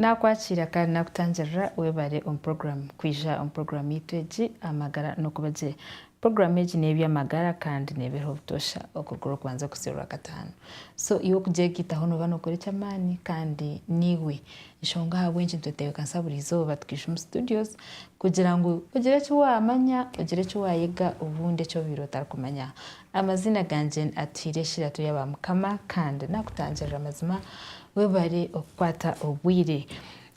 Nakwakira kandi nakutangirira webare omu program kwija omu program yaitu egi amagara nokubagye. Program egi nebyamagara kandi nebeha obutosha okuruga orwokubanza kuhitsya orwakatano. So iwe kugyegitaho noba nokora ekyamani kandi niwe nshonga ahabwenki nitwetebekanisa buri izoba tukaija omu studios kugira ngu ogire eki wamanya, ogire eki wayega obundi eki obaire otarikumanya. Amazina gangye ni Atuhire Eshiratu ya ba Mukama kandi nakutangirira amazima webare okukwata obwire.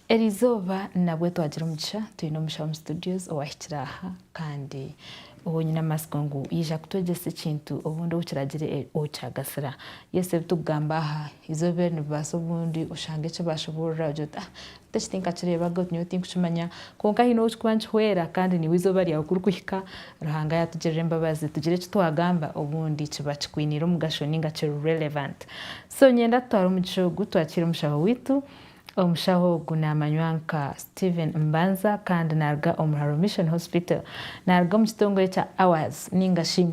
Eri izooba nabwo twagira omugisha twine omusha omu studios owahikire aha kandi ou nyine amatsiko ngu yaija kutwegyesa ekintu obundi ou kiragire ou kyagasira. Yes ebi turikugamba aha izooba eri nibibaasa obundi oshanga eki baashoboorora ogire oti ah beitu eki tinkakireebaga oti nyowe tinkukimanya kwonka haine ou kirikuba nikihwera kandi naiwe izooba ryawe ku ririkuhika Ruhanga yaatugirira embabazi tugire eki twagamba obundi kiba kikwiniire omugasho nainga kiri relevant. So nyenda tutware omugisha ogu twakiire omushaho waitu Omushaho ogu naamanywa nka Steven Mbanza kandi naaruga Omuharo Mission Hospital. Naaruga omu kitongore kya Hours ninga shi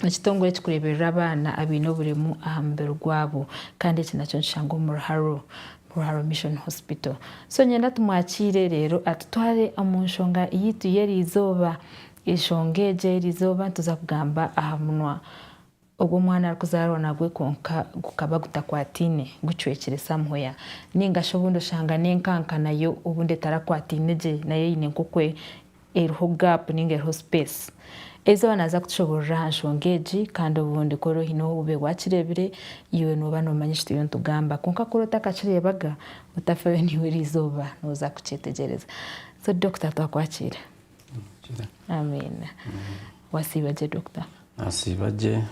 ekitongore ekikureeberera abaana abaine oburemu aha mubiri gwabo kandi eki nakyo nikishangwa omu Ruharo Ruharo Mission Hospital. So niinyenda tumwakiire reero atutware omu nshonga yaitu y'eri izooba. Enshonga egyo ey'eri izooba nituza kugamba aha munwa. Obu omwana arikuzaarwa nagwe kwonka gukaba gutakwataine, gucwekire somewhere. Nainga shi obundi oshanga n'enkanka nayo obundi etarakwataine gye, nayo eine nk'oku eriho gap nainga eriho space. Eizoba naaza kutushoboorora aha nshonga egi kandi obundi ku ori oine obube waakireebire, iwe nooba noomanya eki turiyo nitugamba. Kwonka ku ori otakakireebaga, otafayo naiwe erizooba nooza kukyetegyereza. So Dokita twakwakiira. Amiina. Wasiiba gye Dokita. Nasiiba gye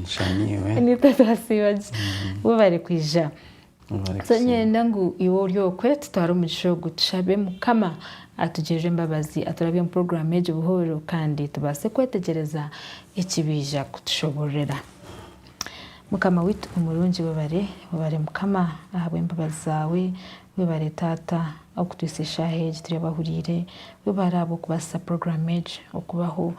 nshamiirwe. Ni itwe twasiiba gye bo bari kwija. So nyenda ngu iwe ori okwe tutware omugisha ogu tushabe Mukama atugirire embabazi aturabye omu puroguraamu egi buhooro kandi tubaase kwetegyereza eki baija kutushoboororera. Mukama waitu omurungi webare, webare Mukama ahabw'embabazi zaawe. Webare taata okutwisa eshaaha egi turi abahuriire, webare ahabw'okubaasisa puroguraamu egi okubaho,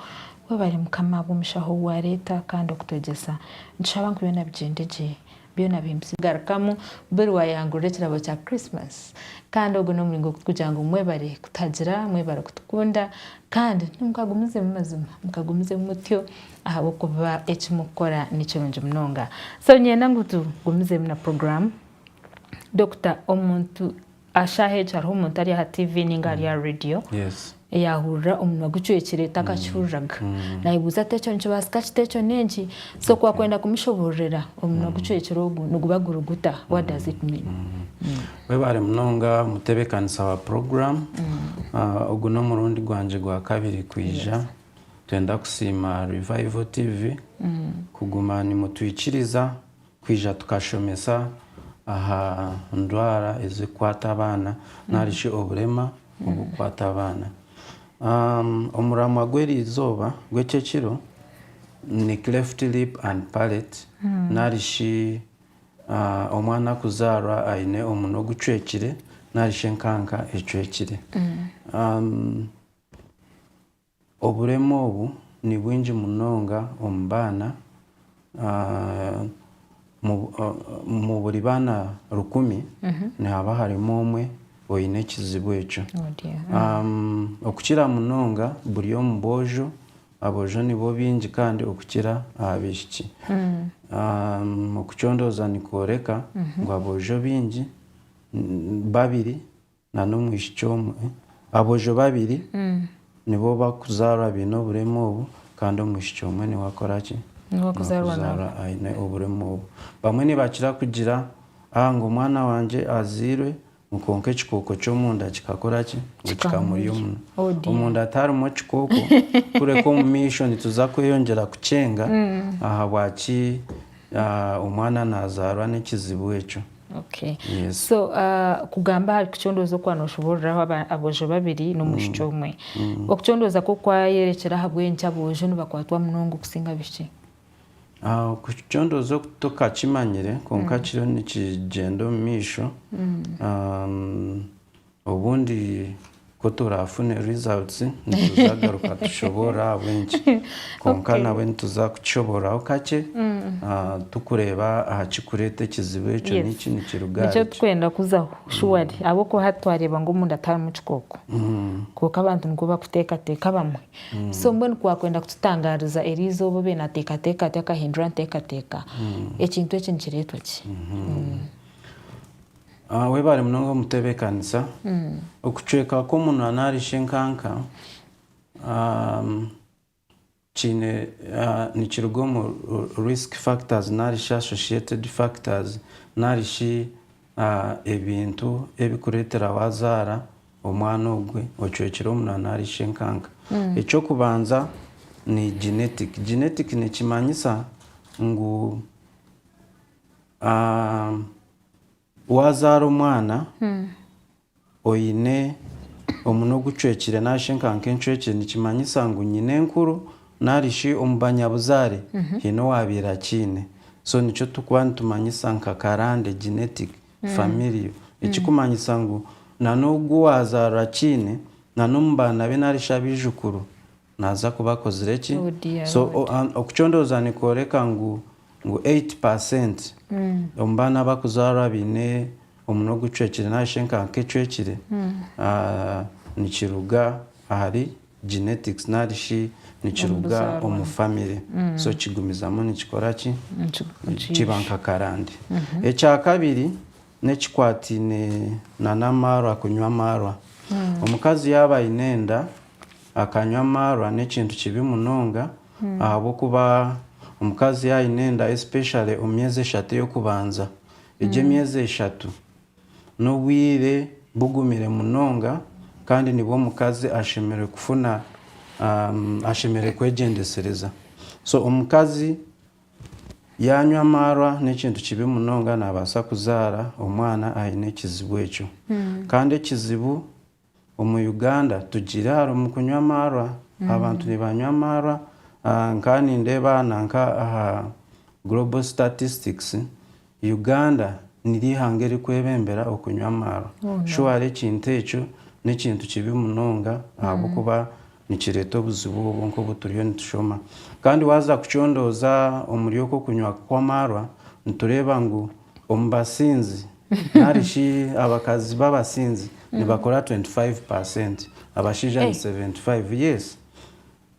webare mukama ahabw'omushaho ou waareeta kandi okutwegyesa, nitushaba ngu byona bigyende gye, byona bihe empiso. Garukamu buri waayangurura ekirabo kya Christmas kandi ogwo n'omuringo kugira ngu mwebare kutuhagira, mwebare kutukunda kandi mukagumizemu mazima mukagumizemu mutyo ahabw'okuba eki mukukora ni kirungi munonga. So niinyenda ngu tugumizemu na puroguraamu Dokita, omuntu aha shaaha egi hariho omuntu ari aha TV ninga ari aha radio yahurira omunwa gucwekire takakihuriraga. Nayebuuza ati ekyo nikibaasika kita ekyo n'egi? So ku wakwenda kumushoboororera omunwa gucwekire ogu niguba guri guta? What does it mean? Webare munonga omutebekanisa wa program. Ogu n'omurundi gwangye gwa kabiri kwija. Nitwenda kusiima Revival TV kuguma nimutwikiriza Kwija tukashomesa aha ndwara ezirikukwata abaana nari shi oburema oburikukwata abaana. Omuramwa gw'eri izooba gw'eki ekiro ni cleft lip and palate nari shi omwana kuzaarwa aine omunwa ogucwekire nari shi enkanka ecwekire. Oburemu obu ni bwingi munonga omu baana, omu buri baana rukumi nihaba harimu omwe oine ekizibu ekyo. Okukira munonga buri omu boojo, aboojo nibo baingi kandi okukira abaishiki. Okucondooza nikworeka ngu aboojo baingi, babiri na n'omwishiki omwe. Aboojo babiri nibo barikuzaarwa baine oburemu obu kandi omwishiki omwe niwe akora ki? Niwe arikuzaarwa nabwo. Aine oburemu obu. Bamwe nibakira kugira ngu omwana wangye azairwe ngu kwonka ekikooko ky'omunda kikakora ki? Ngu kikamurya omunwa. Oh dear. Omunda tiharimu ekikooko kureka omu maisho nituza kweyongyera kukyenga ahabwaki omwana nazaarwa n'ekizibu ekyo. Okay so kugamba ahari kucondooza oku wanoshuburiraho aboojo babiri n'omwishiki omwe okucondooza kwo kwayerekera ahabw'enki aboojo nibakwatwa munonga okusinga abishiki? Okucondooza oku tukakimanyire kwonka kiriyo nikigyenda omu maisho. Obundi ku turaafune results nituzagaruka tushoboorore ahabw'enki. Kwonka nabwe nituza kukishoboororaho kakye turikureeba aha kirikureeta ekizibu ekyo niki, nikiruga ahari ki. Nikyo turikwenda kuzaho surely ahabw'okuba hati twareeba ngu omunda tiharimu kikooko. Kwonka abantu nikwo barikuteekateeka abamwe. So mbwenu ku waakwenda kututangaariza eri izooba obe naateekateeka ati akahindura enteekateeka, ekintu eki nikireetwa ki? Webare munonga omutebekanisa. Okucweka kw'omunwa nari shi enkanka kiine nikiruga omu risk factors nari shi associated factors nari shi ebintu ebikuretera wazara omwana ogwe ocwekire omunwa nari shi enkanka. Ekyokubanza ni genetic. Genetic nikimanyisa ngu. Waazaara omwana oine omunwa ogucwekire nari shi enkanka encwekire nikimanyisa ngu nyinenkuru nari shi omu banyabuzaare haine owaabaire akiine. So nikyo turikuba nitumanyisa nka karande, genetic, familial. Ekirikumanyisa ngu nanogu waazaarwa akiine, n'omu baana be nari shi abaijukuru Naaza kuba akozire ki? So okucondooza nikworeka ngu eight percent omu baana abakuzaarwa abaine omunwa ogucwekire nari shi enkanka ecwekire nikiruga ahari genetics nari shi nikiruga omu famire. So kigumizamu nikikora ki? Kiba nka karande. Ekyakabiri, N'ekikwataine n'amaarwa kunywa amaarwa. Omukazi yaaba aine enda akanywa amaarwa n'ekintu kibi munonga ahabw'okuba omukazi yaaba aine enda especially omu myezi eshatu ey'okubanza, egyo emyezi eshatu n'obwire bugumire munonga kandi nibwo omukazi ashemereire kufuna, ashemereire kwegyendesereza. So omukazi Yaanywa amaarwa n'ekintu kibi munonga naabaasa kuzaara omwana aine ekizibu ekyo. Kandi ekizibu omu Uganda tugiire harimu kunywa amaarwa. Abantu nibanywa amaarwa, nkaaha nindeeba nanka aha Global Statistics Uganda niryo ihanga erikwebembera okunywa amaarwa. Shuwari ekintu ekyo n'ekintu kibi munonga ahabw'okuba nikireeta obuzibu obwo nk'obu turiyo nitushoma. Kandi waaza kucondooza omuri okwo okunywa kw'amaarwa, nitureeba ngu omu basinzi nari shi abakazi b'abasinzi nibakora 25 paasenti, abashaija ni 75. Yes.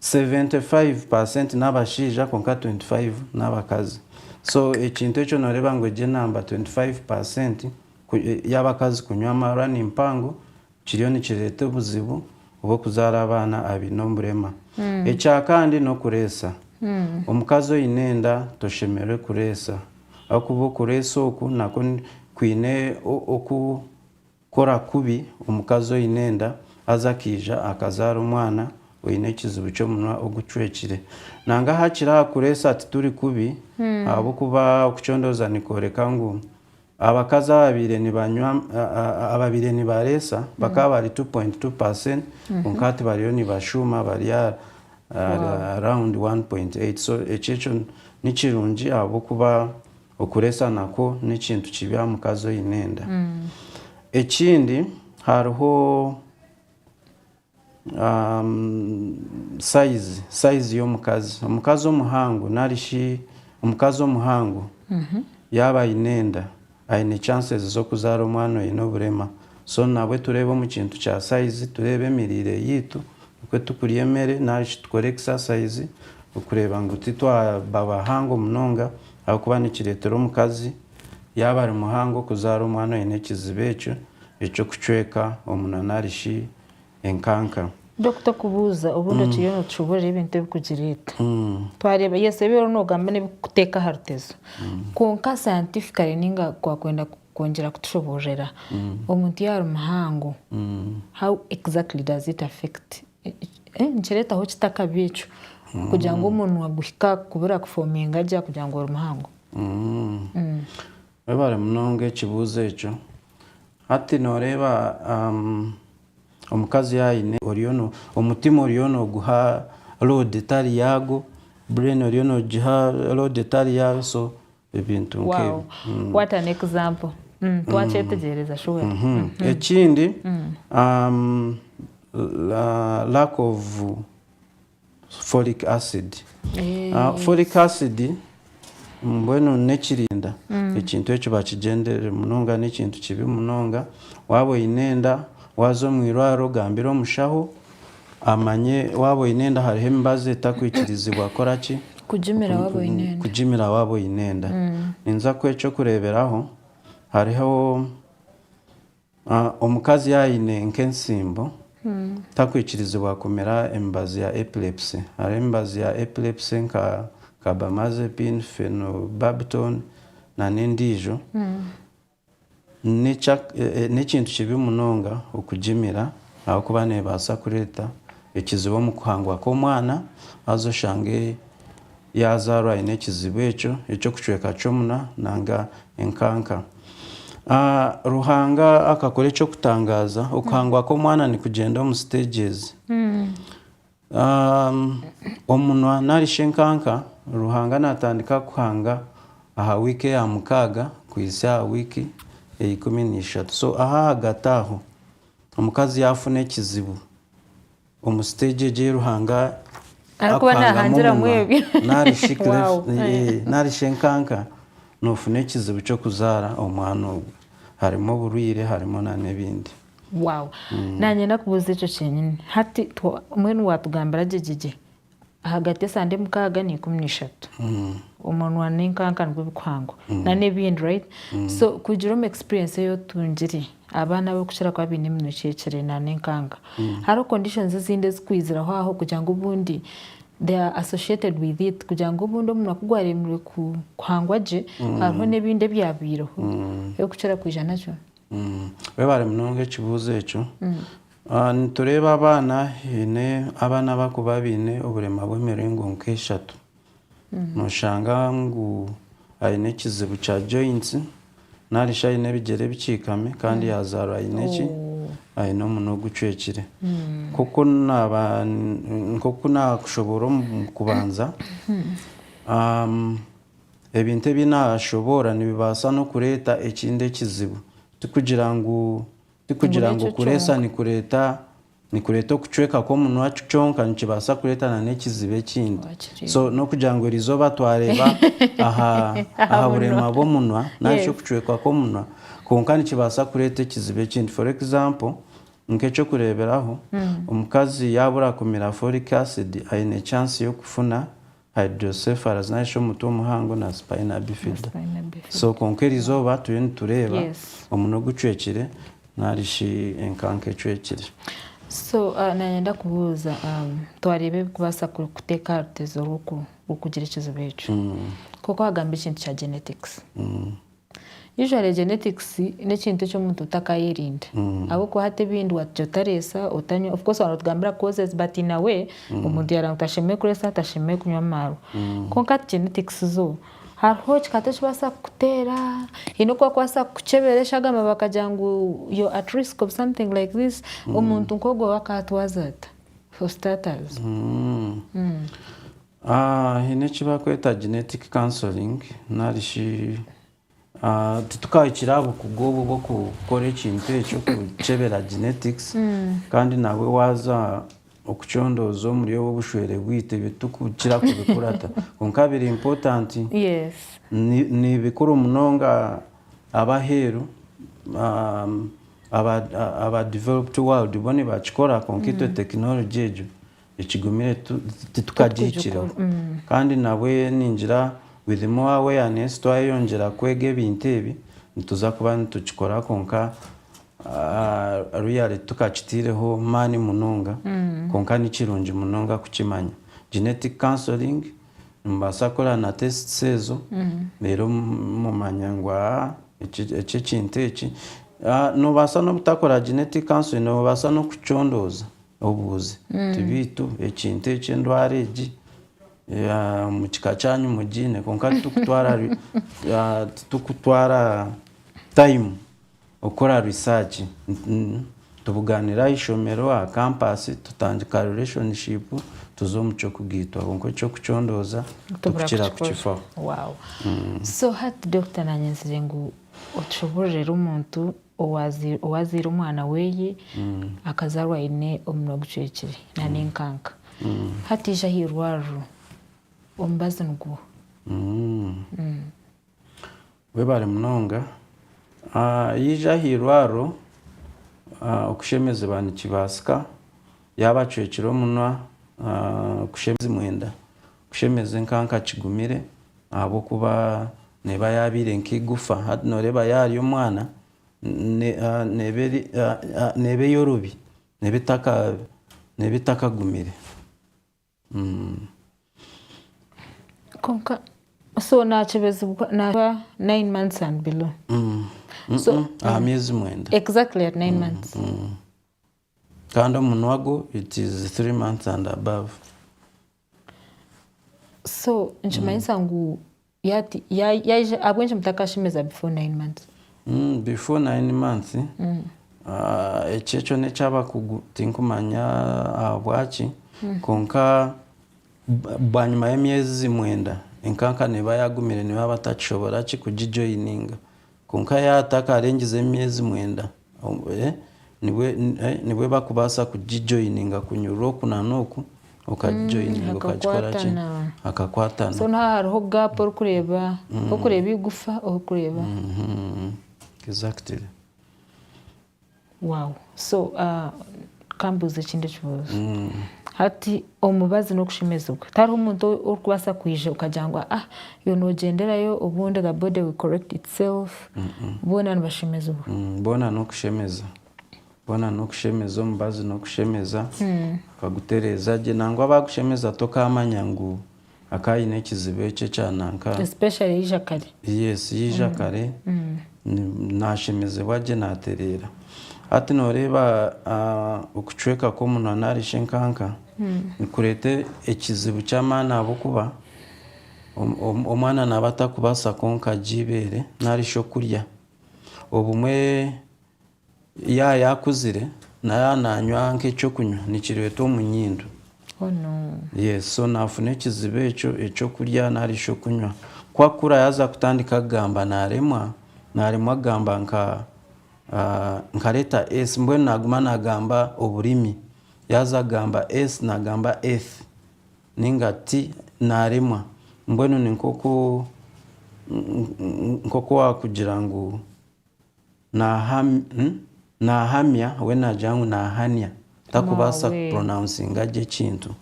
75 percent n'abashaija kwonka 25 n'abakazi so ekintu ekyo noreeba ngu egyo enamba 25 percent y'abakazi kunywa amarani mpango kiriyo nikireeta obuzibu bw'okuzaara abaana abaine oburema ekyakandi n'okureesa omukazi oine enda toshemerire kureesa ahakuba okureesa oku nakwo kwine oku Kora kubi omukazi oine enda haza akaija akazaara omwana oine ekizibu ky'omunwa ogucwekire. Nanga hakiri aha kureetsa tituri kubi ahabw'okuba okucondooza nikworeka ngu abakazi ababaire nibanywa ababaire nibareetsa bakaba bari two point two percent kwonka hati bariyo nibashuuma bari around one point eight so ekyo ekyo nikirungi ahabw'okuba Okureetsa nakwo n'ekintu kibi aha mukazi oine enda. Ekindi hariho sayizi, sayizi y'omukazi. Omukazi omuhango nari shi omukazi omuhango yaaba aine enda, aine chances z'okuzaara omwana oine oburema. So nabwe tureebe omu kintu kya sayizi, tureebe emiriire yaitu, oku turikurya emere nari shi tukore ekisasayizi okureeba ngu titwaba bahango munonga ahabw'okuba nikireetera omukazi yaaba ari muhango kuzaara omwana oine ekizibu ekyo eky'okucweka omunwa nari shi enkanka. Dokita okubuuza, obundi okiriyo nootushuburira ebintu ebikugireeta. Twareeba yes ebi oriyo noogamba n'ebikukuteeka aha rutezo. Kwonka scientifically ninga waakwenda kwongyera kutushuburira, omuntu yaaba ari muhango, how exactly does it affect Nikireetaho kita akabi ekyo kugira ngu omunwa guhike aha kubura kufoominga gye aha kugira ngu ori muhango? Webare munonga ekibuuzo ekyo. Hati noreeba omukazi yaaba aine omutima oriyo noguha load etari yaago, brain eriyo negiha load etari yaayo so ebintu nk'ebi twakyetegyereza ekindi lack of folic acid folic acid mbwenu n'ekirinda ekintu ekyo bakigyenderire munonga n'ekintu kibi munonga waaba oyine enda waaza omwirwariro gambira omushaho Amanye waaba oine enda hariho emibazi etakwikirizibwa kora ki? Kugimira waaba oine enda. Kugimira waaba oine enda. Ninza kuha eky'okureeberaho, hariho omukazi yaaba aine nk'entsiimbo, takwikirizibwa kumira emibazi ya epilepsy. Hariho emibazi ya epilepsy nka carbamazepine, phenobarbital, n'endiijo. N'ekintu kibi munonga okugimira ahabw'okuba neebaasa kureeta ekizibu omu kuhangwa kw'omwana, haza oshange yaazaarwa aine ekizibu ekyo eky'okucweka ky'omunwa nanga enkanka. Ruhanga akakora eky'okutangaaza, okuhangwa kw'omwana nikugyenda omu siteegyezi. Omunwa nari shi enkanka, Ruhanga naatandika kuhanga aha wiiki eya mukaaga kuhitsya aha wiiki eya ikumi na ishatu. So aha ahagati aho, omukazi yaafuna ekizibu omu siteegi egi ei Ruhanga arikuhangamu omunwa nari shi enkanka, noofuna ekizibu ky'okuzaara omwana ogwo. Harimu oburwaire, harimu n'ebindi. Wow nanyenda kubuuza ekyo kyenyini hati mbwenu watugambira gye gye gye ahagati esande mukaaga neikumi neishatu omunwa nenkanka nibwo bikuhangwa nana ebindi right so kugira omu experience eyi otungire abaana abakukira kuba baine eminwa ecwekire nana enkanka hariho conditions ezindi ezikwiziraho aho kugira ngu obundi they are associated with it kugira ngu obundi omunwa kugwaremirwe kuhangwa gye hariho nebindi ebyabaireho ebikukira kwija nakyo. Webare munonga ekibuzo ekyo. Nitureba abaana haine abaana abakuba baine oburema bwemiringo nkeshatu. Noshanga ngu aine ekizibu kya joints nari shi aine ebigyere bikikami kandi yazarwa aine ki, aine omunwa ogucwekire. Nkoku nakushoboora omu kubanza. Ebintu ebi naashoboora nibibaasa n'okureeta ekindi ekizibu. Tikugira ngu tikugira ngu kureesa nikureeta nikureeta okucweka kw'omunwa kyonka, nikibaasa kureeta n'ekizibu ekindi. So n'okugira ngu eri izooba twareeba aha aha burema bw'omunwa nari shi okucweka kw'omunwa kwonka nikibaasa kureeta ekizibu ekindi. For example, nk'eky'okureeberaho, omukazi yaabura kumira folic acid aine chance y'okufuna Hydrocephalus narishi omutwe omuhango na spina bifida. Spina bifida. So kwonka erizooba turiyo nitureeba yes. omunwa ogucwekire narishi enkanka ecwekire. So nayenda kubuuza um, twareeba ebikubaasa kuteeka aha rutezo rw'okugira ekizibu ekyo. Mm. Kwonka wagamba ekintu kya genetics. Mm. Usually genetics n'ekintu eki omuntu otakayerinda ahabw'okuba hati ebindi watugya otareesa otanywa of course waba notugambira causes but in a way omuntu yaareeba ngu tashemereire kureesa tashemereire kunywa amaarwa kwonka hati genetics zo hariho ekikata ekibaasa kukuteera haine oku bakubaasa kukukyebera eshagama bakagira ngu you're at risk of something like this omuntu nk'ogwo we akaatwaza ata for starters. Haine eki barikweta genetic counselling nari shi titukahikire aha bukugu obwo bw'okukora ekintu ekyo okukyebera genetics kandi nawe waaza okucondooza omuri obwo bushwere bwaitu ebi titurikukira kubikurata kwonka biri important ni bikuru munonga ab'aheeru aba developed world bo nibakikora kwonka itwe technology egyo Ekigumire titukagihikiremu kandi nabwe ningira with more awareness twayeyongyera kwega ebintu ebi nituza kuba nitukikora kwonka really titukakiteireho maani munonga kwonka nikirungi munonga kukimanya. Genetic counselling nimubaasa kukora na tests ezo reero mumanya ngu eki ekintu eki. Nobaasa nobutakora genetic counselling nobaasa nokukicondooza. Obuuze, Ti baitu ekintu eki endwara egi omu kika kyanyu mugiine? Kwonka titurikutwara taimu kukora risaaci. Nitubugaanira aha ishomero, aha kampaasi, tutandika rireshonshipu tuza omu ky'okugaitwa. Kwonka eky'okucondooza nitukira kukifaho. So hati Dokita naanye nzire ngu otushoboororere omuntu Owaazaire omwana we akazaarwa aine omunwa gucwekire nana enkanka, hati aija aha irwariro, omubazi nigwo. Webare munonga. Yaija aha irwariro, okushemezibwa nikibaasika. Yaaba acwekire omunwa, okushemezibwa omwenda. Kushemeza enka nkakigumire ahabw'okuba neeba yaabaire nka eigufa. Hati nooreeba yaarya omwana neeba ey'orubi, neeba etakagumire. Kwonka so naakibazibwa naaba nayini mansi andi bilo? Aha myezi mwenda. Exactly at nine months. Kandi omunwa gwo it is three months and above. So nikimanyisa ngu yati ya- yaija ahabw'enki mutakashemeza before nine months Mm, before nine months ah, ekyo ekyo n'eky'abakugu tinkumanya ahabwaki kwonka bwa- bwanyima y'emyezi mwenda enkanka neeba yaagumire nibaaba batakishobora ki kugijoyininga Kwonka yaatakarengize emyezi mwenda, nibwo bakubaasa kugijoyininga kunyurura oku na n'oku, okagijoyininga okagikora ki? Hakakwatana. So n'aha hariho gaapu orikureeba, orikureeba eigufa orikureeba. Exactly. Wow so kambuuze ekindi ekibuuzo hati omubazi n'okushemezibwa tariho omuntu orikubaasa kwija okagira ngu ah iwe noogyenderayo obundi the body will correct itself boona nibashemezibwa boona n'okushemeza boona n'okushemeza omubazi n'okushemeza bakagutereeza gye nangwa baakushemeza tokaamanya ngu Akaba aine ekizibu ekyo ekya nanka. Especially yaija kare. Yes, yaija kare nashemezebwa gye natereera. Hati noreeba okucweka kwomunwa nari shi enkanka nikureeta ekizibu kyamaani ahabwokuba omwana naba atakubaasa kwonka gye eibeere nari shi okurya. Obumwe. Yaaya akuzire naayaaba naanywa nk'eky'okunywa nikireetwa omu nyindo. Oh no. Yes, so naafuna ekizibu ekyo eky'okurya nari eky'okunywa. Ku akura yaaza kutandika kugamba naaremwa, naaremwa kugamba nka nka leeta S mbwenu naaguma naagamba oburimi. Yaaza kugamba S naagamba Eth nainga T naaremwa. Mbwenu ni nk'oku nk'oku waakugira ngu. Nahamya we nagira ngu nahania takubaasa kupronouncinga gye ekintu.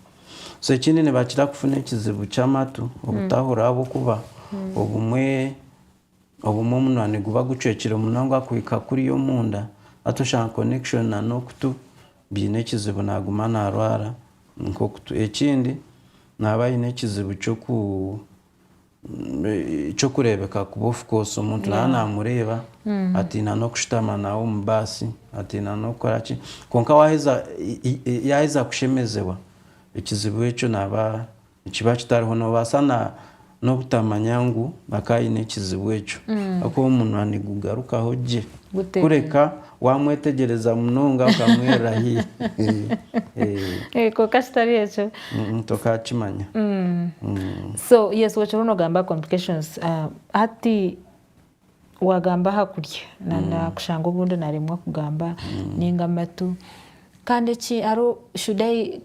So ekindi nibakira kufuna ekizibu ky'amatu obutahurira ahabw'okuba obumwe obumwe omunwa niguba gucwekire munonga kuhika kuriya omunda hati oshanga connection na n'okutu biine ekizibu naguma narwara nk'okutu. Ekindi naba aine ekizibu ky'oku. Eky'okureebeka kuba of course omuntu naaba naamureeba atiina n'okushutama nawe omu baasi, atiina n'okukora ki. Kwonka waaheza, yaaheza kushemezibwa, ekizibu ekyo naaba, nikiba kitariho. Noobaasa na, n'obutamanya ngu akaba aine ekizibu ekyo. Ahakuba omunwa nigugarukaho gye. Kureka. Waamwetegyereza munonga okamwirira haihi. Kwonka kitari ekyo. Tokaakimanya. So yes okiriho noogamba complications. Hati waagamba aha kurya na kushanga obundi naaremwa kugamba nainga amatu. Kandi eki hariho should I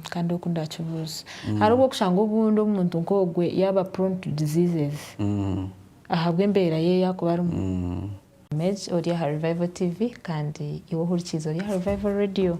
kandi oku ndaakibuuze. Hariho obu orikushanga obundi omuntu nk'ogwe yaaba prone to diseases ahabw'embeera ye ei arikuba arimu. Maj ori aha Revival TV kandi iwe ohurikiizi ori aha Revival Radio.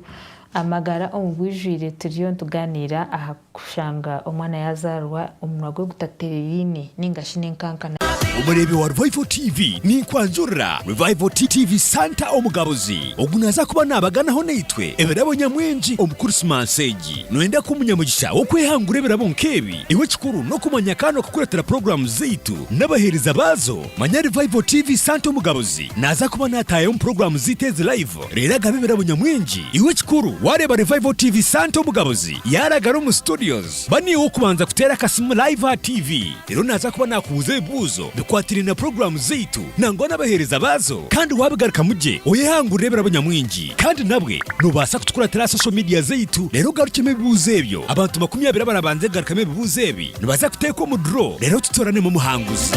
Amagara omu bwijwire turiyo nitugaaniira aha kushanga omwana yaazaarwa omunwa gwe gutaterereine nainga shi n'enkankana. Omureebi wa Revival TV, ninkwanjurira Revival TV Santa Omugabuzi ogu naaza kuba naabaganaho naitwe ebirabo nyamwingi omu Kurisimansi egi. Nooyenda kuba omunyamugisha w'okwehangura ebirabo nk'ebi? Iwe ekikuru n'okumanya kandi n'okukureetera puroguraamu zaitu n'abaheereza baazo. Manya Revival TV Santa Omugaruzi naaza kuba naataayaho omu puroguraamu zaitu ezi live reero agabe ebirabo nyamwingi. Iwe ekikuru waareeba Revival TV Santa Omugaruzi yaaragara omu studios, ba niiwe ow'okubanza kuteera akasimu live aha TV. Reero naaza kuba naakubuuza ebibuuzo bikwatiraine na puroguraamu zaitu nangwa n'abaheereza baazo kandi waabigarukamu gye oyehangurire ebirabo nyamwingi. Kandi nabwe noobaasa kutukuratira aha social media zaitu reero ogarukyemu ebibuuzo ebyo. Abantu makumi abiri abarabanze kugarukamu ebibuuzo ebi. Nibaza kuteeka omu duro reero tutoranemu omuhanguzi.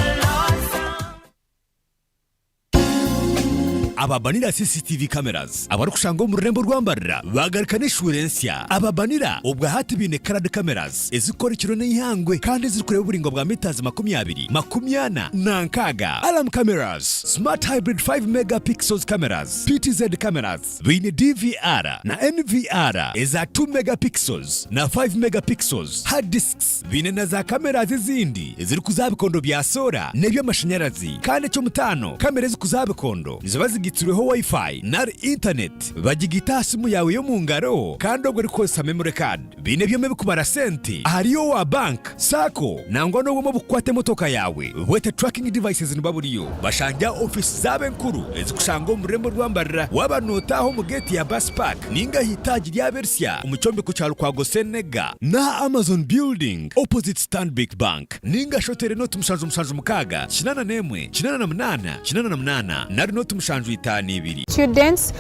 Aba Banira CCTV Cameras abarikushangwa omu rurembo rwa Mbarira baagaruka n'eshuura ensya. Aba Banira obwahati baine Coloured Cameras ezirikukora ekiro n'eihangwe kandi ezirikureeba oburaingwa bwa metres makumi abiri, makumi ana na nkaaga. Alarm Cameras, Smart Hybrid 5 Mega Pixels Cameras, PTZ Cameras, Baine DVR na NVR eza two megapixels na five megapixels, hard disks. Baine na za cameras ezindi ezirikuza aha bikondo bya soora n'eby'amashanyarazi. Kandi eky'omutaano, kamera ezikuza aha bikondo niziba zigaitsirweho Wi-Fi nari Internet. Bagigaita aha simu yaawe y'omu ngaro kandi obwo orikukoresa memory card. Baine ebyoma ebikubara sente ahari owa bank, sacco nangwa n'obwoma obukukwata emotoka yaawe bwete tracking devices niba buriyo bashange aha ofiisi zaabo enkuru ezikushangwa omu rurembo rwa Mbarara waaba nootaaha omu geeti ya bus park ninga aha itaagi ryaabo erisya omu kyombeko kya Lukwago Senega n'aha Amazon building opposite Stanbic Bank ninga shi oteere nooti mushanju mushanju mukaaga kinaana n'emwe kinaana na munaana kinaana na munaana nari nooti mushanju itaano ibiri. Students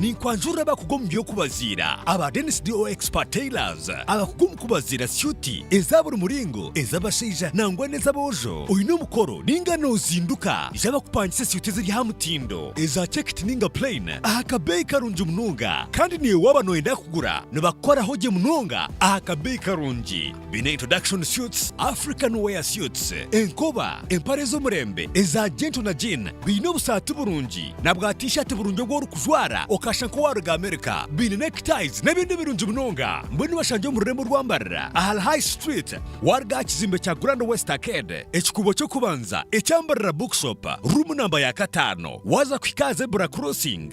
Ninkwanjurira abakugu omu by'okubaziira aba Dennis DO Expert Tailors, abakugu omu kubaziira syuti eza buri muringo, ez'abashaija nangwa n'ez'aboojo. Oine omukoro ninga nozinduka? Ija bakupangise syuti eziri aha mutindo, eza checked ninga plain aha kabeeyi karungi munonga. Kandi naiwe waaba noyenda kugura, nibakukoraho gye munonga aha kabeeyi karungi. Biine introduction suits, African wear suits, enkoba, empare z'omurembe eza Gento na Jean, biine obusaati burungi na bwa T-shirt burungi obu orikujwara okashusha nk'owaaruga America, biine neckties n'ebindi birungi munonga. Mbwenu bashangye omu rurembo rw'ambarira ahari High Street waaruga aha kizimbe kya Grand West Arcade, ekikuubo ky'okubanza eky'Ambarira Bookshop, room namba ya kataano waaza kuhika aha Zebra Crossing.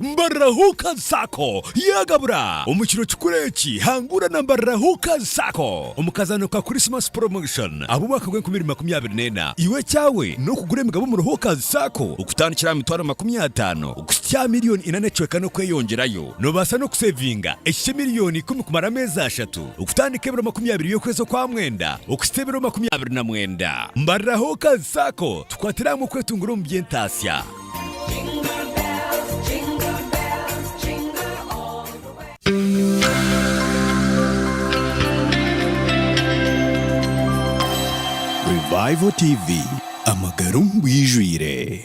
Mbarira Huuka Sacco yaagabura! Omu kiro kikuru eki, hangura na Mbarira Huuka Sacco omu kazaano ka Christmas Promotion ab'omwaka gw'enkumi ibiri makumi abiri n'ena. Iwe ekyawe n'okugura emigabo omuri Huuka Sacco okutandikira aha mitwaro makumi ataano kuhitsya aha milioni ina n'ekicweka n'okweyongyerayo. Noobaasa n'okuseevinga ekihikye milioni ikumi kumara ameezi ashatu, okutandika ebiro makumi abiri by'okwezi okwa mwenda okuhitsya ebiro makumi abiri na mwenda. Mbarira Huuka Sacco. Tukwatire hamwe kwetungira omu by'entaatsya. Revival TV, Amagara omu bwijwire.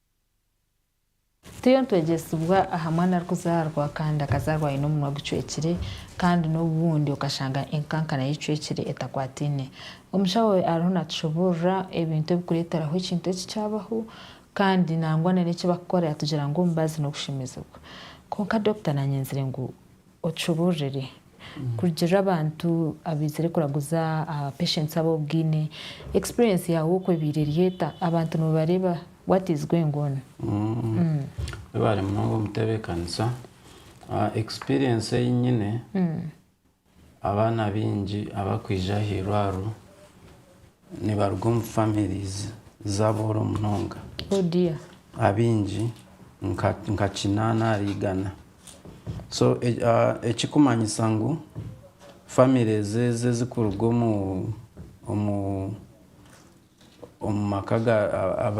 Turiyo nitwegyesibwa aha mwana arikuzaarwa kandi akazaarwa aine omunwa gucwekire kandi n'obundi okashanga enkankana y'eicwekire etakwataine. Omushaho ariho naatushoboorora ebintu ebirikureeteraho ekintu eki kyabaho kandi nangwa n'eki barikukora yaatugira ngu omubazi n'okushemeezibwa. Kwonka dokita naanyenzire ngu. Okibuurire. Kurugiirira abantu abaizire kuraguza aba patients abo obwine. Experience yaawe oku ebaire eri eta? Abantu noobareeba what is going on? Webare munonga omutebeekanisa. Experience ei nyine, abaana baingi abarikwija aha irwariro nibaruga omu families z'abooro munonga. Abaingi nka kinaana ahari igana. So ekikumanyisa ngu families ezi ezikuruga omu maka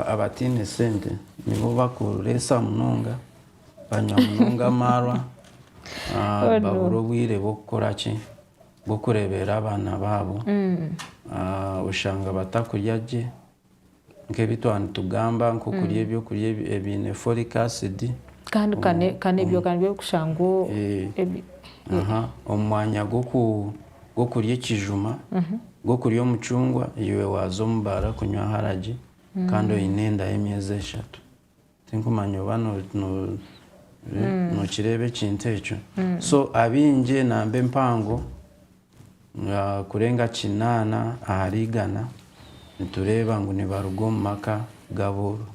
abataine sente nibo bakureetsa munonga, banywa munonga amaarwa, babura obwire bwokukora ki, bwokureeberera abaana baabo, oshanga batakurya gye. nk'ebi twaba nitugamba nk'okurya mm. ebyokurya ebiine folic acid kandi kandi ebyo kandi by'okushangwa omu mwanya gw'okurya ekijuma mhm. gw'okurya omucungwa iwe waaza omu baara kunywa haragi mm. kandi oine enda y'emyezi eshatu Tinkumanya oba nokireeba ekintu ekyo. So abaingi namba empango kurenga kinaana ahari igana nitureeba ngu nibaruga omu maka g'abooro.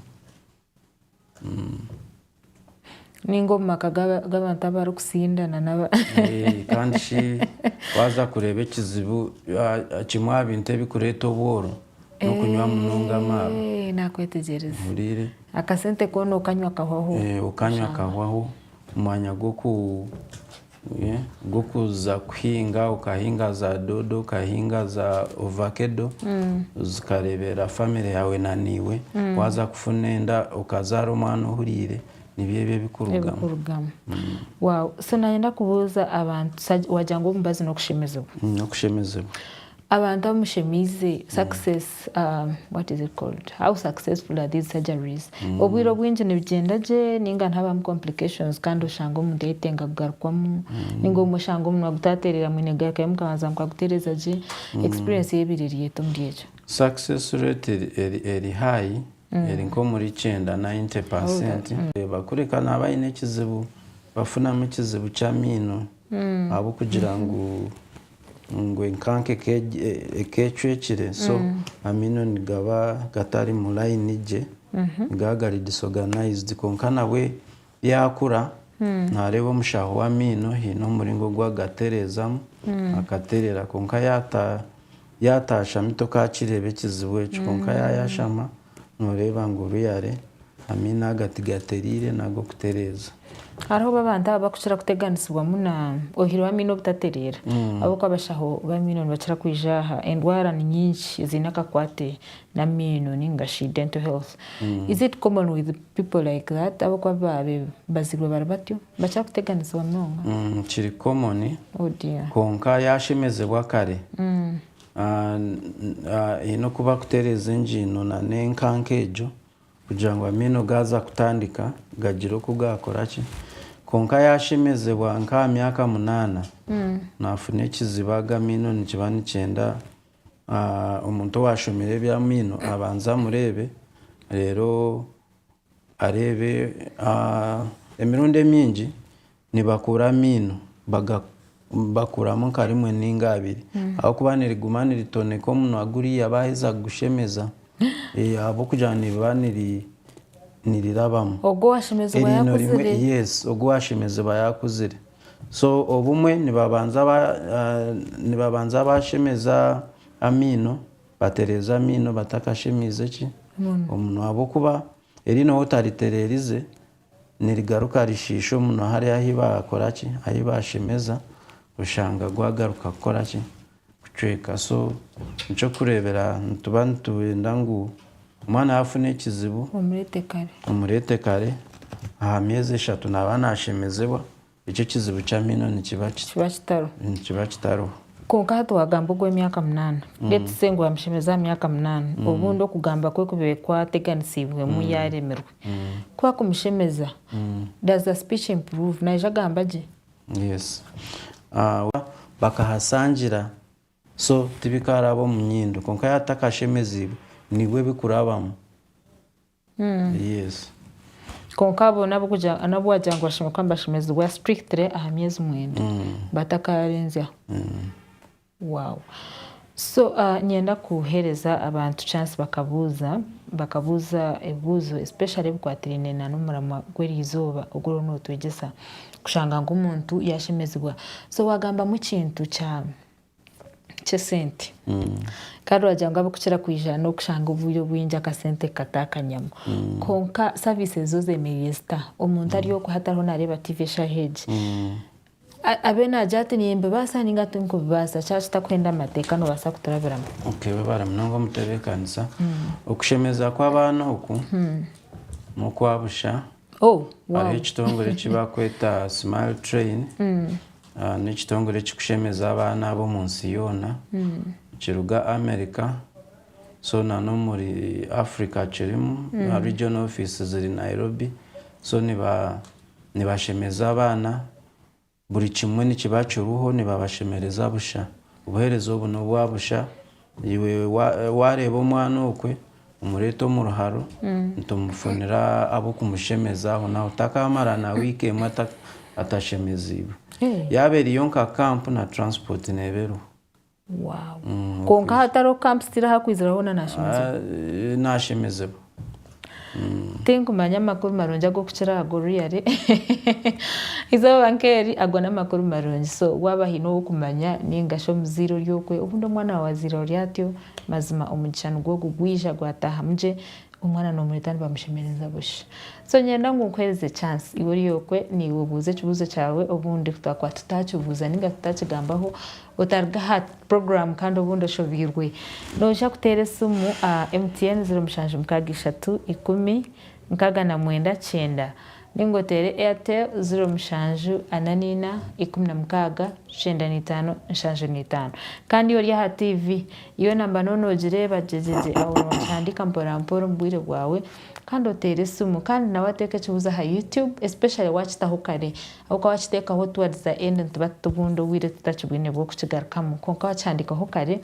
Ninga omu maka g'abantu abarikutsindana. Kandi shi waaza kureeba ekizibu kimwe aha bintu ebirikureeta obwooro, N'okunywa munonga amaaro. Eeh, naakwetegyereza. Ohuriire? Akasente koona okanywa kahwaho. Eeh, okanywa kahwaho. Omwanya gw'oku, eeh, gw'okuza kuhinga, okahinga za doodo, okahinga za ovakedo, zikareeberera famire yaawe na naiwe. Waaza kufuna enda, okazaara omwana ohuriire, nibyo ebi ebikurugamu. Ebikurugamu. Waawu. So naanye ndakubuuza abantu, sa, waagira ngu omubazi n'okushemezibwa. N'okushemezibwa. Abantu abu mushemeize success um, what is it called how successful are these surgeries obwire obwingi nibigyenda gye ninga nihabamu complications kandi oshange omuntu yayetenga kugarukwamu ninga obumwe oshange omunwa gutaterera mwine garukayo mukabanza mukagutereza gye experience yo ebaire eri eta omuri ekyo Success rate eri, eri, eri high, eri nk'omuri kyenda, 90 percent. Reeba, kureka naaba aine ekizibu, bafunamu ekizibu ky'amaino ahabw'okugira ngu ngu enkanka ekecwekire so amaino nigaba gatari mu layini gye nigaba gari disorganized kwonka nabwe yakura nareeba omushaho w'amaino haine omuringo ogu agatereezamu akaterera kwonka yatashami tokakireeba ekizibu ekyo kwonka yayashama Nooreeba ngu Ruyare amaino aga tigatereire naga okutereeza? Hariho bo abantu aba bakukira kuteganisibwamu na ohiire w'amaino obutatereera ahabw'okuba abashaho b'amaino nibakira kwija aha endwara ni nyingi eziine akakwate n'amaino nainga shi dental health. Is it common with people like that ahabw'okuba babaziirwe bari batyo? Nibakira kuteganisibwa munonga? Kiri common kwonka yaashemezibwa kare Haine kuba akutereeza engiino nana enkanka egyo kugira ngu amaino gaaza kutandika gagire oku gaakora ki. Kwonka yaashemezibwa nk'aha myaka munaana, naafuna ekiziba ago amaino nikiba nikyenda omuntu owaashomire eby'amaino abanze amureebe reero. Areebe, emirundi emingi nibakuura amaino bagakuramu nka rimwe ninga abiri ahabwokuba niriguma niritoneka omunwa guriya baheza kugushemeza ahabwokugira ngu niriba nirirabamu. Ogu owashemezibwa yakuzire. Yes ogu owashemezibwa yakuzire. So obumwe nibabanza bashemeza amaino Batereeza amaino batakashemeize ki? Omunwa. Ahabw'okuba eriino ou otaritereerize nirigaruka rishiisha omunwa hariya ahi baakora ki? Ahi baashemeza, oshanga gwagaruka kukora ki? Kucweka. So, n'eky'okureebera nituba nitwenda ngu omwana yaafuna ekizibu, omureete kare. Omureete kare. Aha myezi eshatu naaba naashemezebwa, Ekyo ekizibu ky'amaino nikiba ki? Kiba kitaro. Nikiba kitariho. Kwonka aha twagamba ogw'emyaka munaana, beitu se ngu amushemereire aha myaka munaana, obundi okugamba kwe kube kwateganisiibwemu yaaremirwe ku akumushemeza. Does the speech improve? Naija agamba gye? Yes. Bakahasangira, so tibikaaraba omu nyindo. Kwonka yaaba atakashemeziibwe, nibwo bikurabamu. Yesu. Kwonka abo n'abu wagira ngu bashemerire kuba nibashemezibwa strictly aha myezi mwenda batakaarenzyaho. Wow. So niinyenda kuheereza abantu chance bakabuuza, bakabuuza ebibuuzo especially ebikwatiraine n'omuramwa gw'eriizooba ogu oriyo nootwegyesa. Kushanga ngu omuntu yaashemezibwa. So waagambamu ekintu kya. ky'esente kandi oragira ngu abikukira kwiija n'okushanga obwire obwingi akasente kukatakanyamu kwonka saviisi ezo zeemereire zita omuntu ari okwe hatariho naareeba tiivi eshaaha egi abe naagira ati nimbibaasa nainga tinkubibaasa kyaba kitakuhenda amateeka noobaasa kuturabiramu Okay, webare munonga omutebeekanisa. Okushemeza kw'abaana oku n'okwa busha. Oh, wow. Hariho ekitongore eki barikweta Smile Train N'ekitongore ekirikushemeza abaana abo omu nsi yoona. Nikiruga America, so na n'omuri Africa kirimu. Na regional office ziri Nairobi. So nibashemeza abaana, buri kimwe nikiba kiriho, nibabashemereza busha. Obuheereza obu n'obwa busha. Iwe waareeba omwana okwe, omureete omu ruharo, nitumufunira ab'okumushemeza aho n'aho. Takaamara na wiiki emwe atashemeziibwe. Yaaba eriyo nka kampu, na turansipooti neeba eriho. Kwonka hatariho kampu sitiiri ahu arikwizira hoona naashemezibwa? Naashemezibwa. Tinkumanya amakuru marungi ag'okukira aha g'oru yari. Eizooba nk'eri, ago n'amakuru marungi. So, waaba haine ow'okumanya nainga shi omuzaire ori okwe, obundi omwana waawe azairwe ari atyo, mazima omugisha nigwo ogu gwija gwataahamu gye, omwana noomureeta nibamushemereza busha. So, niinyenda ngu nkuheereze chance, iwe ori okwe, naiwe obuuze ekibuuzo kyawe, obundi twaakuba tutaakibuuza nainga tutaakigambaho, Otaruga aha puroguramu kandi obundi oshobeirwe, noija kuteera esimu aha MTN ziro mushanju mukaaga ishatu ikumi nkaaga na mwenda kyenda nainga oteere Airtel ziro mushanju ana naina ikumi na mukaaga kyenda na itaano nshanju na itaano. Kandi ori aha tiivi, yoona mba nyowe noogireeba gyegyegye aho noogihandiika mporampora omu bwire bwawe kandi oteere esimu. Kandi nawe ateeka ekibuuzo aha YouTube especially waakitaho kare. Ahabw'okuba waakiteekaho towards the end nituba tutubunda obwire tutakibwine bw'okukigarukamu kwonka waakihandiikaho kare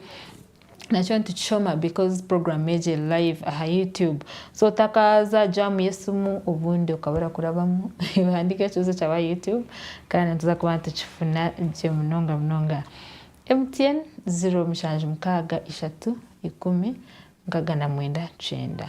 nakyo nitukishoma because program egi eri live aha YouTube so otakaaza jam y'esimu obundi okaba orakurabamu ohandiika ekibuzo kyaawe aha YouTube kandi nituza kuba nitukifuna gye munonga munonga. MTN, ziro mushanju mukaaga ishatu ikumi nkaaga na mwenda kyenda.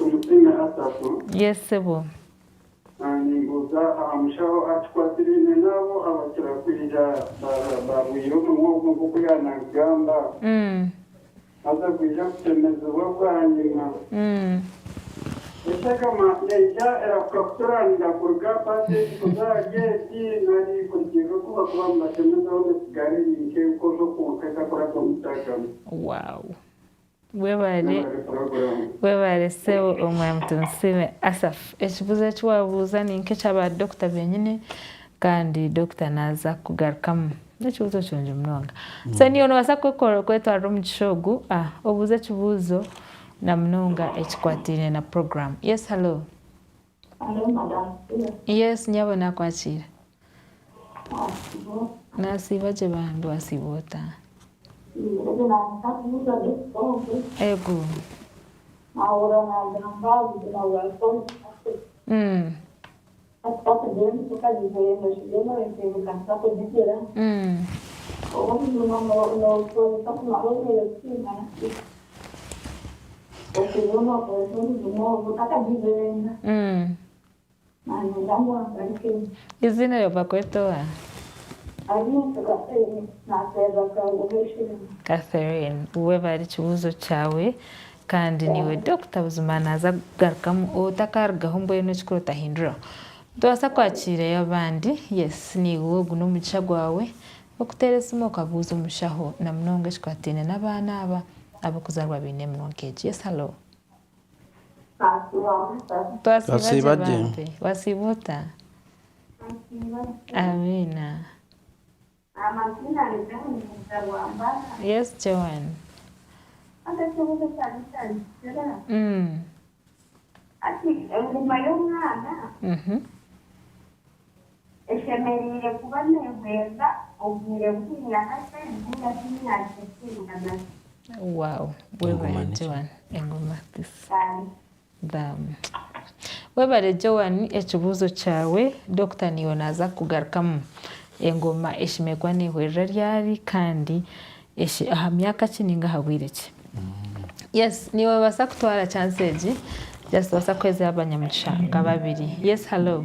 Omutsime Asafu. Yes sebo. Nimbuuza aha mushaho akikwatiraine n'abo abakira kwija barwaire omunwa ogwo nk'oku yaaba naagugamba, haza gwija kutemezibwa bwanyima. Eshagama neija erakukakuturanira kuruga aha paseegi kuza aha geeti nari kurugirira oku bakuba nibatemezaho neesigara eri nk'enkojo kwonka etakuraba omu shagama. Wow! Webale webale Sebo Omwami Tunsiime Asaph. Ekibuzo eki wabuuza ninka ekya ba Dokita benyini kandi Dokita naza kukugarukamu. Nekibuzo kirungi munonga. So niiwe nobasa kwetwarira omugisha ogu obuuze ekibuuzo namunonga ekikwataine na program. Yes hallo. Yes nyabo nakwakiira. Nasiiba gye bambi wasiiba ota? Ego. Okubohwa kwonka omuzimu ogwo takagigyenga. Nanyenda ngu angarukemu. Eiziina eryo bakweta owa? Arinzyo Catherine. Naseerera Karuuha Ishirima. Catherine, webare ekibuuzo kyawe kandi niiwe Dokita buzima naaza kugarukamu otakarugaho mbwenu ekikuru otahinduraho. Nitubaasa kwakiirayo abandi. Yes, niiwe ogu n'omugisha gwawe. Okuteera esimu okabuuza omushaho na munonga ekikwataine n'abaana aba ab'okuzaarwa baine eminwa nk'egi. Yes, hallo. Twasiiba gye bambi. Wasiiba ota? Amiina. Yes Joan. Eshemereire kuba neehweza obwire buhingwa kakye nainga shi emyaka ekiringana ki? Wow webare Joan engoma tisa. Bam. Bam. Webare Joan ekibuuzo kyawe Dokita niiwe naaza kugarukamu. Engoma eshemereire kuba neehwerera ryari kandi aha myaka ki nainga aha bwire ki? Yes noobaasa kutwara chance egi just noobaasa kuheereza abanyamugisha nka babiri. Yes hallo.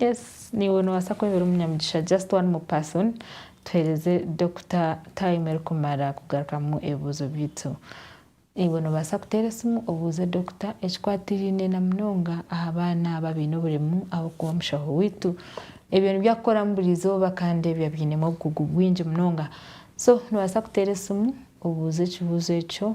Yes niiwe nobaasa kwebera omunyamugisha just one more person tuhereze Dokita time erikumara kugarukamu ebibuuzo byaitu. Iwe nobaasa kuteera esimu obuuze Dokita ekikwatiraine na munonga aha baana aba abaine oburemu ahabw'okuba omushaho waitu ebyo nibyo akukoramu buri izooba kandi ebyo abyinemu obukugu bwingi munonga so nobaasa kuteera esimu obuuze ekibuuzo ekyo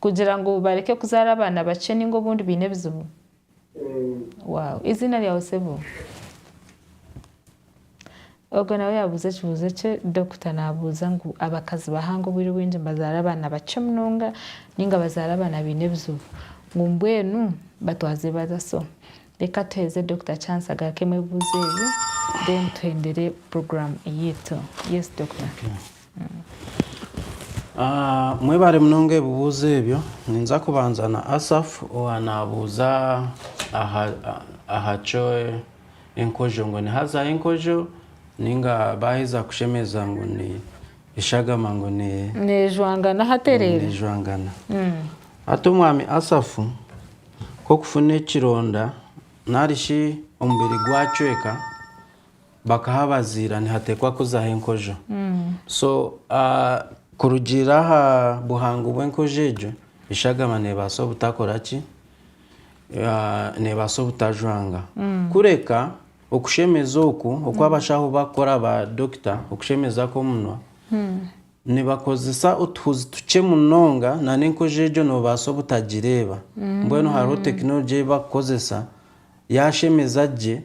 Kugira ngu bareke kuzaara abaana bakye ninga obundi baine ebizibu? Wow eiziina ryawe sebo? Ogwe nawe yabuuza ekibuuzo ekye Dokita nabuuza ngu abakazi bahanga obwire obwingi nibazaara abaana bakye munonga ninga bazaara abaana baine ebizibu? Ngu mbwenu batwaze bata so Reka tuheereze Doctor chance agarukemu ebibuuzo ebi then tuhendere program eyaitu. Yes Doctor. Mwebare munonga ebibuuzo ebyo. Ninza kubanza na Asaf owa nabuuza aha kyo enkojo ngu ni haza y'enkojo ninga baheza kushemeza ngu ni eshagama ngu ne nejwangana haterere. Nejwangana. Hati omwami Asaf Nk'okufuna ekironda nari shi omubiri gwacweka bakahabaziira nihateekwa kuzaho enkojo. So kurugiirira aha buhango bw'enkojo egyo, eshagama neebaasa obutakora ki? Neebaasa obutajwanga. Kureka okushemeza oku oku abashaho barikukora, ba dokita, okushemeza kw'omunwa, Nibakozesa otuhuzi tukye munonga nana enkojo egyo nobaasa obutagireeba. Mbwenu hariho technology ei bakukozesa yaashemeza gye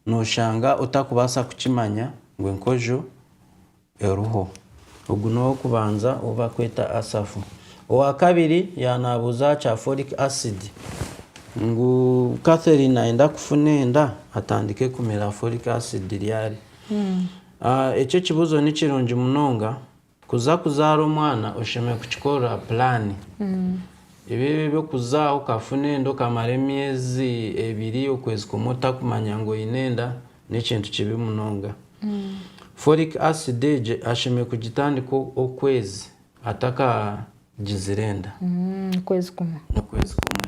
noshanga otakubaasa kukimanya ngu enkojo eriho. Ogu n'ow'okubanza ou barikweta Asafu. Owaakabiri yaaba naabuuza aha kya folic acid ngu Catherine nayenda kufuna enda atandike kumira folic acid ryari. A Ekyo ekibuzo ni kirungi munonga. Kuza kuzaara omwana oshemereire kukikorera pulaani. Ebi eby'okuza okafuna enda okamara emyezi ebiri, okwezi kumwe otakumanya ngu oine enda n'ekintu kibi munonga. Folic acid egyo ashemereire kugitandika okwezi atakagizire enda. Okwezi kumwe. Okwezi kumwe.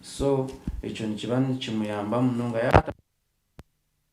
So ekyo nikiba nikimuyamba munonga.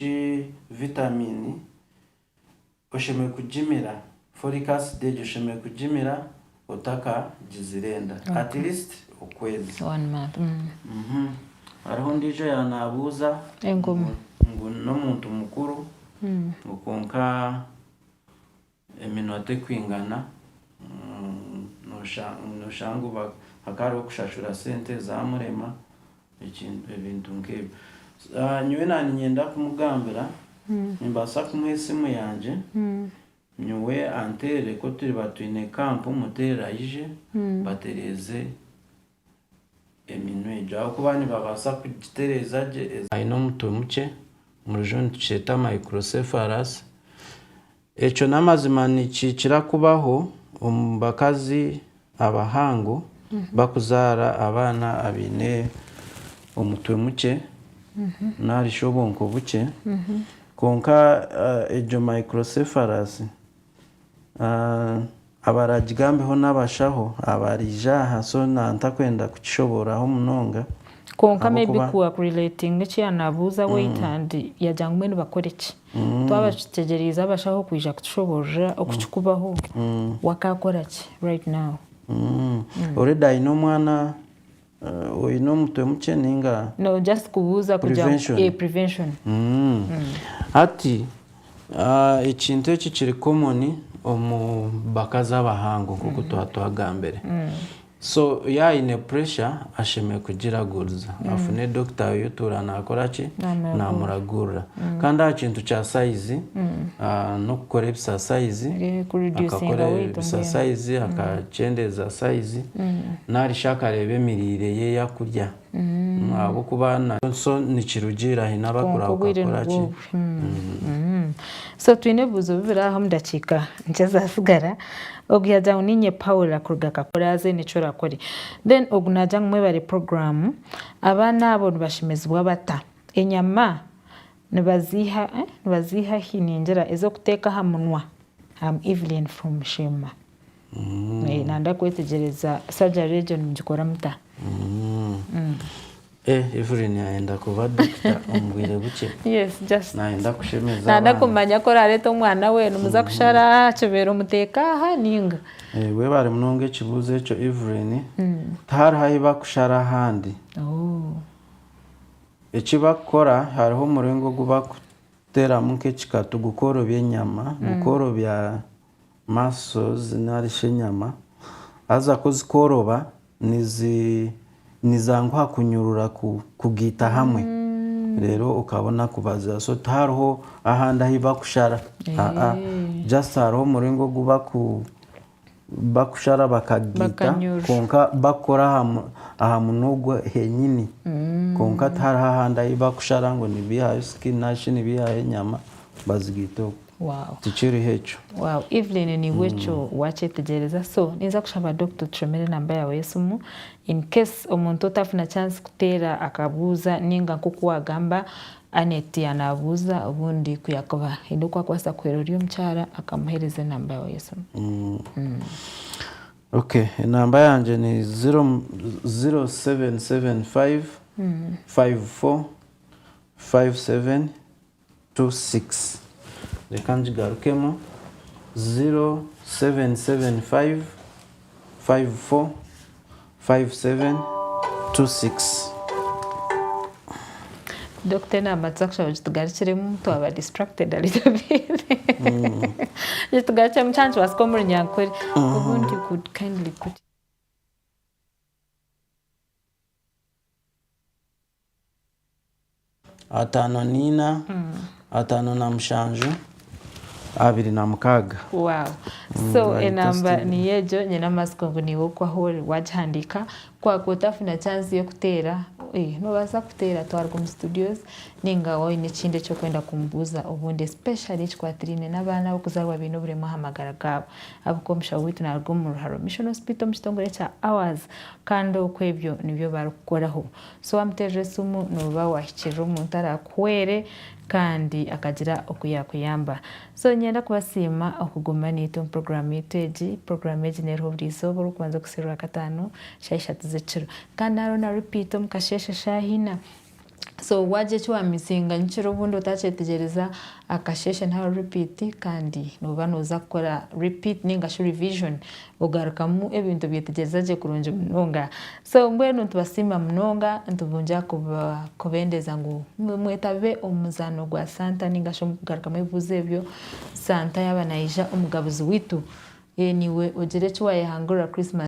Egi vitamiini oshemereire kugimira, folic acid egi oshemereire kugimira otakagizire enda at least okwezi. Hariho ondiijo yaaba naabuuza ngu n'omuntu mukuru ngu kwonka eminota ekwingana noshanga ngu hakaba hariho kushashura sente ezamurema ebintu nkebyo nyowe naba ninyenda kumugambira nimbaasa kumuha esimu yangye nyowe anteerere kuturiba twine camp muteerere aije mbatereeze eminwa egyo ahabw'okuba nibabaasa kugitereeza gye. Aine omutwe mukye, omu rujungu nitukyeta microcephalus. Ekyo n'amazima nikikira kubaho omu bakazi abahango bakuzaara abaana abaine omutwe mukye nari shi obwonko bukye. Kwonka egyo microcephalus. Abaragigambeho n'abashaho abariija aha so ntakwenda kukishoboororaho munonga. Kwonka maybe ku wa kurelatinga eki ya nabuuza wait and yagira ngu mbwenu bakore ki? Twaba tutegyereize abashaho kwija kutushoboorora oku kikubaho wakakora ki right now? Already aine omwana Oine omutwe mukye ninga? No just kubuuza kugira ngu eh prevention. Hati ekintu eki kiri common omu bakazi abahango nkoku twaba twagambire. So yaaba aine pressure ashemereire kugiraguriza afune doctor we otuura nakoraki? Namuragurira. Kandi aha kintu kya sayizi, n'okukora ebisasayizi, akakora ebisasayizi, akakyendeeza sayizi, nari shi akareeba emiriire ye ei arikurya. Ahabw'okuba nakyo nikirugiirira haine abakakora ki. So twine ebibuuzo bibiri aha omu dakiika nkye ezatsigara. Ogu yaagira ngu, Niinye Paula kuruga Kakuraazi, haine eki orakore. Then ogu naagira ngu, Mwebare puroguraamu. Abaana abo nibashemezibwa bata? Enyama nibaziiha nibaziiha hi? Ningira ez'okuteeka aha munwa. Am Evelyn from Sheema. Nanda kwetegyereza surgery egyo nimugikora muta? Evelyn ayenda kuba dokita omu bwire bukye. Yes just. Nayenda kushemeza abandi. Nanda kumanya ku oraareete omwana we nimuza kushara aha kibeere omuteeke aha nainga? Webare munonga ekibuuzo ekyo Evelyn. Tihariho ahi bakushara ahandi. Eki barikukora hariho omuringo ogu barikuteeramu nk'ekikatu gukoorobya enyama, gukoorobya muscles nari shi enyama. Haza ku zikooroba nizanguha kunyurura kugaita hamwe reero okabona kubazira. So tihariho ahandi ahu barikushara, just hariho omuringo ogu bakushara bakagiita Bakanyurura. kwonka bakukora aha mu- aha munwa ogwo henyini kwonka tihariho ahandi ahi bakushara ngu nibihayo skin nari shi nibihayo enyama bazigaite okwo Wow. tikiriho ekyo Wow, Evelyn niiwe ekyo wakyetegyereza so ninza kushaba Dokita otushomere enamba yaawe y'esimu in case omuntu otafuna chance kuteera akabuuza ninga nk'oku waagamba Annet yanaabuuza obundi ku yaakuba haine oku akubaasa kuhwera ori omukyara akamuheereza enamba yaawe y'esimu. Ok, enamba yangye ni ziro, ziro seveni seveni fayivu, fayivu fo, fayivu seveni tu sikisi. Reka ngigarukemu, ziro seveni seveni fayivu, fayivu fo, 5726. Dokita enamba tuzakushaba ogitugarukiremu twaba distracted a little bit ogitugarukiremu kyaba nikibaasika omu runyankore obundi you could kindly put Ataano naina, ataano na mushanju, abiri na mukaaga. Wow. So Right, enamba that's the- niyo egyo nyine amatsiko ngu niiwe okuha ori wagihandiika kwaaku otafuna chance y'okuteera eh, noobaasa kuteera twaruga omu studios ninga waaba oine ekindi eki orikwenda kumubuuza obundi especially ekikwatiraine n'abaana ab'okuzaarwa baine oburemeezi aha magara gaabo ahabw'okuba omushaho waitu naaruga omu Ruharo Mission Hospital omu kitongore kya Hours Kandi okwo ebyo nibyo barikukukoraho. So waamuteerera esimu nooba waahikirira omuntu araakuhwere kandi akagira oku yaakuyamba. So niinyenda kubasiima okuguma naitwe omu puroguraamu yaitu egi. Puroguraamu egi neeriho buri izooba orikubanza kuhitsya Rwakataano shaaha ishatu z'ekiro. Kandi hariho na ripiiti omu kasheeshe shaaha ina. So wagye eki wa missinga nyikira obundi otakyetegyereza akasheshe nari repeat kandi noba noza kukora repeat ninga shi revision ogarukamu ebintu obyetegyereza gye kurungi munonga. So mbwenu nitubasiima munonga nitubungyira kubendeza ngu mwetabe omu muzaano gwa Santa ninga shi omu kugarukamu ebibuuzo ebyo Santa yaba nayija omugabuzi witu niwe ogira eki wayehangurira Christmas.